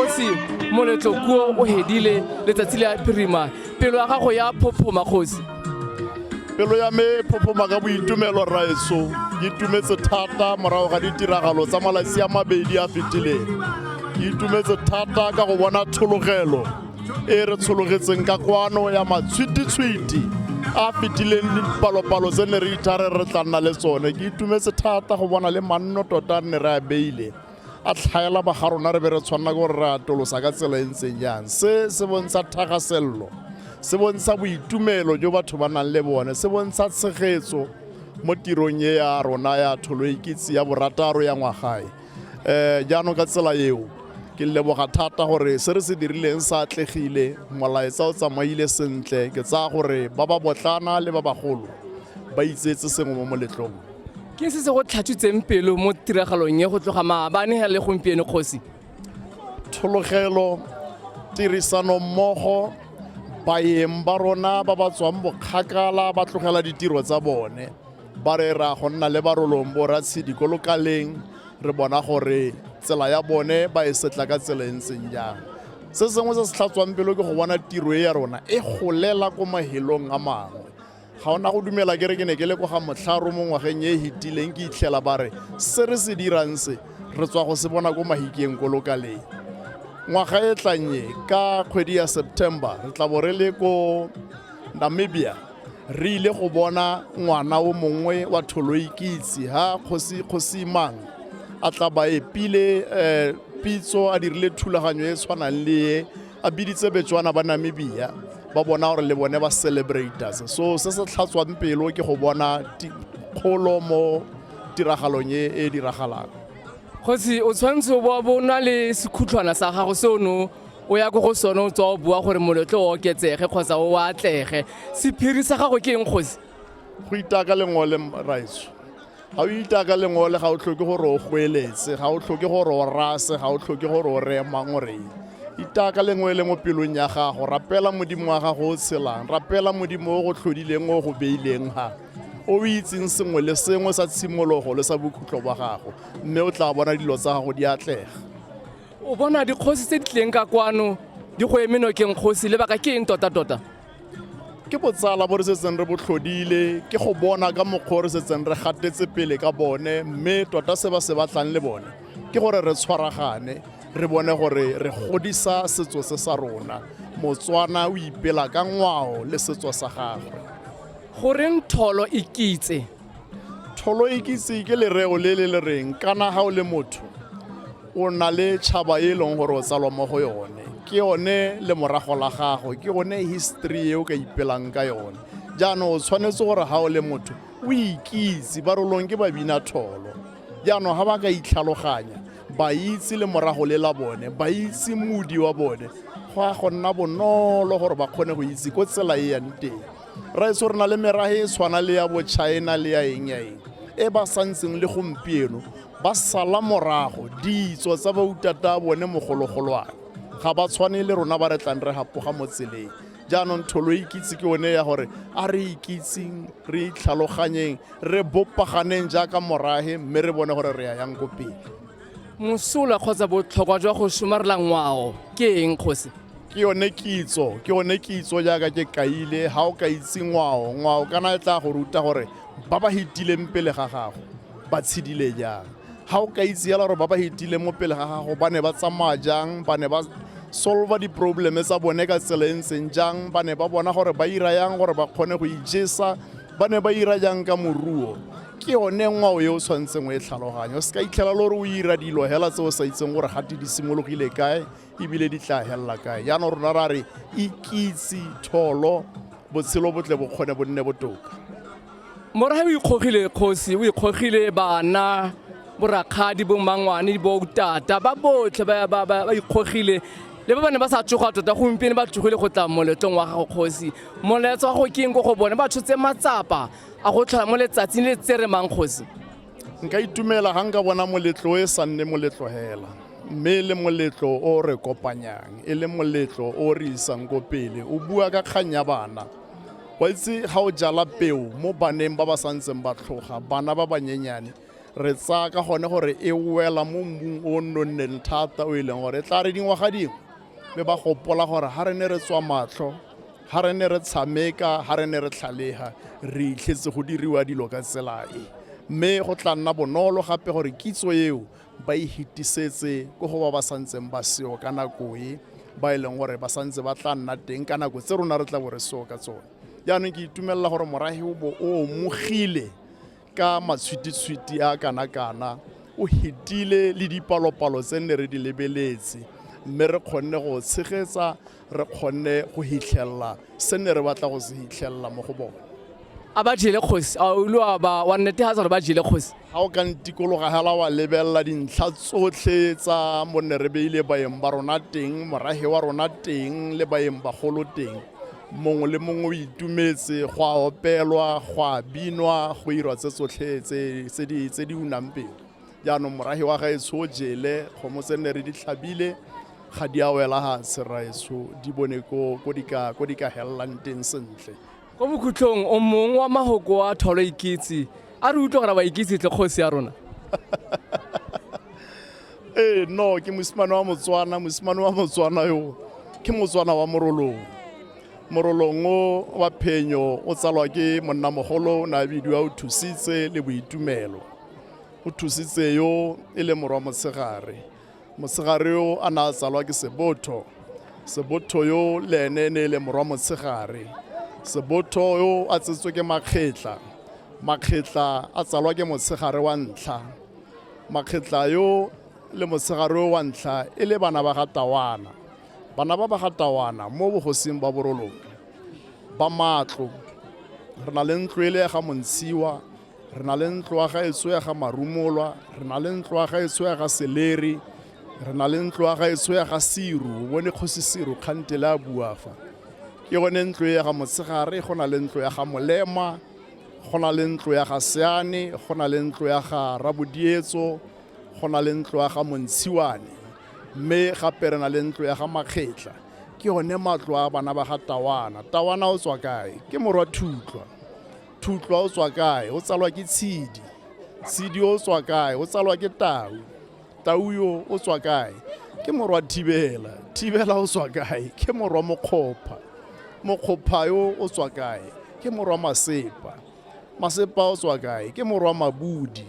kgosi moletlo kuo o hedile letsatsi le a phirima pelo ya gago ya phophoma kgosi pelo ya me phophoma ka boitumelo raeso ke itumetse thata morago ga ditiragalo tsa malatsi a mabedi a fetileng ke itumetse thata ka go bona thologelo e re tshologetseng ka kwano ya matshwititshwiti a fetileng dipalopalo tse ne re ithare re tla nna le tsone ke itumetse thata go bona le manno tota nne re a beile a tlhaela ba ga rona re be re tshwanela gore re atolosa ka tsela e ntseng jang se se bontsha thagaselelo se bontsha boitumelo jo batho ba nang le bone se bontsha tshegetso mo tirong e ya rona ya tholo ikitse ya borataro ya ngwagae um jaanong ka tsela eo ke leboga thata gore se re se dirileng sa atlegile molaetsa o tsamaile sentle ke tsaya gore ba ba botlana le ba bagolo ba itsetse sengwe mo moletlong ke se se go tlhatswitseng pelo mo tiragalong e go tloga maabane ga le gompieno kgosi thologelo tirisanommogo baeng ba rona ba ba tswang bokgakala ba tlogela ditiro tsa bone ba re ra go nna le barolong bo ratshedi ko lokaleng re bona gore tsela ya bone ba e setla ka tsela e ntseng jang se sengwe se se tlhatswang pelo ke go bona tiro e ya rona e golela ko mahelong a mangwe ga ona go dumela ke re ke ne ke le kwa ga motlharo mo ngwageng e e hetileng ke itlhela ba re se re se dirang se re tswa go se bona ko mahikeng ko lokaleng ngwaga e tlannye ka kgwedi ya september re tla bo re le ko namibia re ile go bona ngwana o mongwe wa tholoikitse ha kgosi kgosimang a tla ba epile eh, pitso a dirile thulaganyo e tshwanang le e a biditse betswana ba namibia ba bona gore le bone ba celebrators so se se tlhatswang pelo ke go bona ti- kgolo mo tiragalong e e diragalang kgosi o tshwanetse o bo o bo o na le sekhutlhwana sa gago se o ne o o ya ko go sone o tswa o bua gore moletlo o oketsege kgotsa o atlege sephiri sa gago ke eng kgosi go itaka lengole raetso ga o itaka lengole ga o tlhoke gore o goeletse ga o tlhoke gore o rase ga o tlhoke gore o reye mangoreng itaka lengwe le mo pelong ya gago rapela modimo wa gago o tshelang rapela modimo o go tlhodileng o go beileng ga o o itseng sengwe le sengwe sa tshimologo le sa bokhutlo ba gago mme o tla bona dilo tsa gago di atlega o bona dikgosi tse di tleng ka kwano di go eme nokeng kgosi lebaka ke eng tota-tota ke botsala bo re setseng re botlhodile ke go bona ka mokgwa re setseng re gatetse pele ka bone mme tota se ba se batlang le bone ke gore re tshwaragane re bone gore re godisa setso se sa rona motswana o ipela ka ngwao le setso sa gagwe goreng tholo e kitse tholoikisi ke lereo le le le reng kana ga o le motho o na le tšhaba e leng gore o tsalwa mo go yone ke yone le morago la gago ke yone history e o ka ipelang ka yone jaanong o tshwanetse gore ga o le motho o ikitse ba rolong ke babina tholo jaanong ga ba ka itlhaloganya ba itse le morago le la bone ba itse modi wa bone go ya go nna bonolo gore ba kgone go itse ko tsela e yang teng raeso re na le merage e tshwana le ya bochina le ya eng ya eng e ba santseng le gompieno ba sala morago ditso tsa bautata bone mogologolwane ga ba tshwane le rona ba re tlang re gapoga mo tseleng jaanong tholo e ikitse ke one ya gore a re ikitseng re itlhaloganyeng re bopaganeng jaaka morage mme re bone gore re ya yang ko pele mosola kgotsa botlhokwa jwa go somarela ngwao ke eng kgosi ke yone kitso ke yone kitso jaaka ke kaile ga o ka itse ngwao ngwao kana e tla go ruta gore ba ba hitileng pele ga gago ba tshedile jang ga o ka itse yala gore ba ba hitileng mo pele ga gago ba ne ba tsamaya jang ba ne ba solva di-probleme tsa bone ka tsela e ntseng jang ba ne ba bona gore ba ira yang gore ba kgone go ijesa ba ne ba ira jang ka moruo ke yone ngwao e o tshwanetseng o e tlhaloganye o se ka itlhela le gore o ira dilo hela tse o sa itseng gore gate di simologile kae ebile di tla helela kae jaanong rona ra re ikitse tholo botshelo botle bo kgone bo nne botoka morahe o ikgogile kgosi o ikgogile bana borakgadi bo mangwane bo tata ba botlhe ba- ba ba- ba ikgogile le ba ba ne ba sa tsoga tota gompieno ba tsogile go tla moletlong wa gago kgosi moletso wa go keng ko go bone ba tshotse matsapa a go tlhola mo letsatsing le tse re mang kgosi nka itumela ga nka bona moletlo e sa nne moletlo hela mme e le moletlo o re kopanyang e le moletlo o re isang ko pele o bua ka kgang ya bana wa itse ga o jala peo mo baneng ba ba santseng ba tlhoga bana ba banyenyane re tsaya ka gone gore e wela mo mmung o nonneng thata o e leng gore e tla re dingwaga dingwe mme ba gopola gore ga re ne re tswa matlho ga re ne re tshameka ga re ne re tlhalega re itlhetse go diriwa dilo ka tsela e mme go tla nna bonolo gape gore kitso eo ba e hitisetse ko go ba ba santseng ba seo ka nako e ba e leng gore ba santse ba tla nna teng ka nako tse rona re tla bo re seo ka tsone jaanong ke itumelela gore morahe o bo o mogile ka matshwititshwiti a kana-kana o hetile le dipalopalo tse nne re di lebeletse mme re kgonne go tshegetsa re kgonne go hitlhelela se ne re batla go se hitlhelela mo go bone a ba jele kgosi a ulo a ba wa nnete ha tsare ba jele kgosi ga o ka ntikologa hela wa lebelela dintlha tsotlhe tsa mo ne re beile baeng ba rona teng morage wa rona teng le baeng bagolo teng mongwe le mongwe o itumetse go a opelwa go a binwa go irwa tse tsotlhe tse di unang pele jaanong morage wa gaetsho o jele kgomo tse nne re di tlhabile ga di a wela gatshe raetsho di bone ko di ka helelang teng sentle ko bokhutlhong o mongwe wa magoko wa tholo ikitse a re utlwa gore ba ikitse tle kgosi ya rona ee no ke mosimane wa motswana mosimane wa motswana yo ke motswana wa morolong morolong o wa phenyo o tsalwa ke monnamogolo o ne a bidiwa o thusitse le boitumelo o thusitse yo e le morwa motshegare motshegare yo a ne a tsalwa ke sebotho sebotho yo le ene e ne e le morwa motshegare sebotho yo a tsetswe ke makgetla makgetla a tsalwa ke motshegare wa ntlha makgetla yo le motshegare o wa ntlha e le bana ba ga tawana bana ba ba ga tawana mo bogosing ba boroloke ba matlo re na le ntlo e le ya ga montshiwa re na le ntlo ya ga etso ya ga marumolwa re na le ntlo ya ga etso ya ga seleri re na le ntlo ya ga etso ya ga siru bone kgosi siru kgantele a buafa ke gone ntlo e ya ga motshegare go na le ntlo ya ga molema go na le ntlo ya ga seane go na le ntlo ya ga rabodietso go na le ntlo ya ga montshiwane mme gape re na le ntlo ya ga makgetla ke one matlo a bana ba ga tawana tawana o tswa kae ke morwa thutlwa thutlwa o tswa kae o tsalwa ke tshedi tshedi o tswa kae o tsalwa ke tau tau yo o tswa kae ke morwa thibela thibela o tswa kae ke morwa mokgopha mokgopha yo o tswa kae ke morwa masepa masepa o tswa kae ke morwa mabudi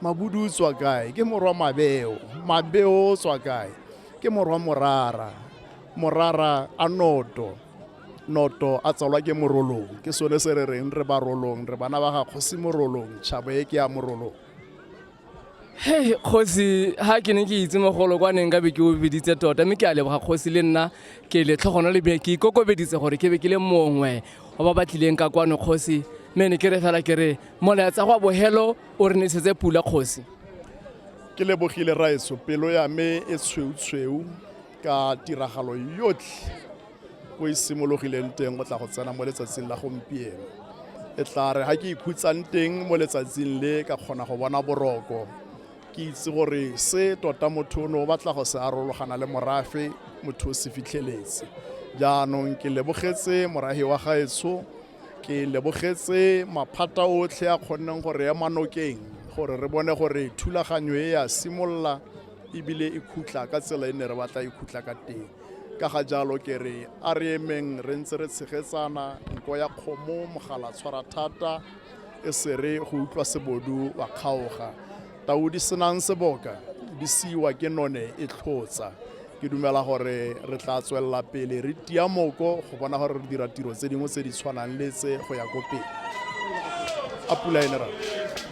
mabudi o tswa kae ke morwa mabeo mabeo o tswa kae ke morwa morara morara a noto noto a tsalwa ke morolong ke sone se re reng re ba rolong re bana ba ga kgosi morolong tšhabo e ke ya morolong Hey, kgosi ha ke ne ke itse mogolo kwa neng ka be ke o biditse tota mme ke a leboga kgosi le nna ke letlhogono le be ke ikokobeditse gore ke be ke le mongwe wa ba ba tlileng ka kwano kgosi mme ne ke re fela ke re molaetsa go a bohelo o re nesetse pula kgosi ke lebogile raeso pelo ya me e tshweutshweu ka tiragalo yotlhe ko e simologileng teng go tla go tsena mo letsatsing la gompieno e tla re ga ke ikhutsang teng mo letsatsing le ka kgona go bona boroko ke itse gore se tota motho o ne o batla go se arologana le morafe motho o se fitlheletse jaanong ke lebogetse morahi wa gaetsho ke lebogetse maphata otlhe a kgonneng gore ema nokeng gore re bone gore thulaganyo e ya simolola ebile e khutla ka tsela e ne re batla e khutla ka teng ka ga jalo ke re a re emeng re ntse re tshegetsana nko ya kgomo mogala tshwara thata e se re go utlwa sebodu wa kgaoga tau di senang seboka di siwa ke none e tlhotsa ke dumela gore re tla tswelela pele re tia moko go bona gore re dira tiro tse dingwe tse di tshwanang le tse go ya ko pele a pula ene rra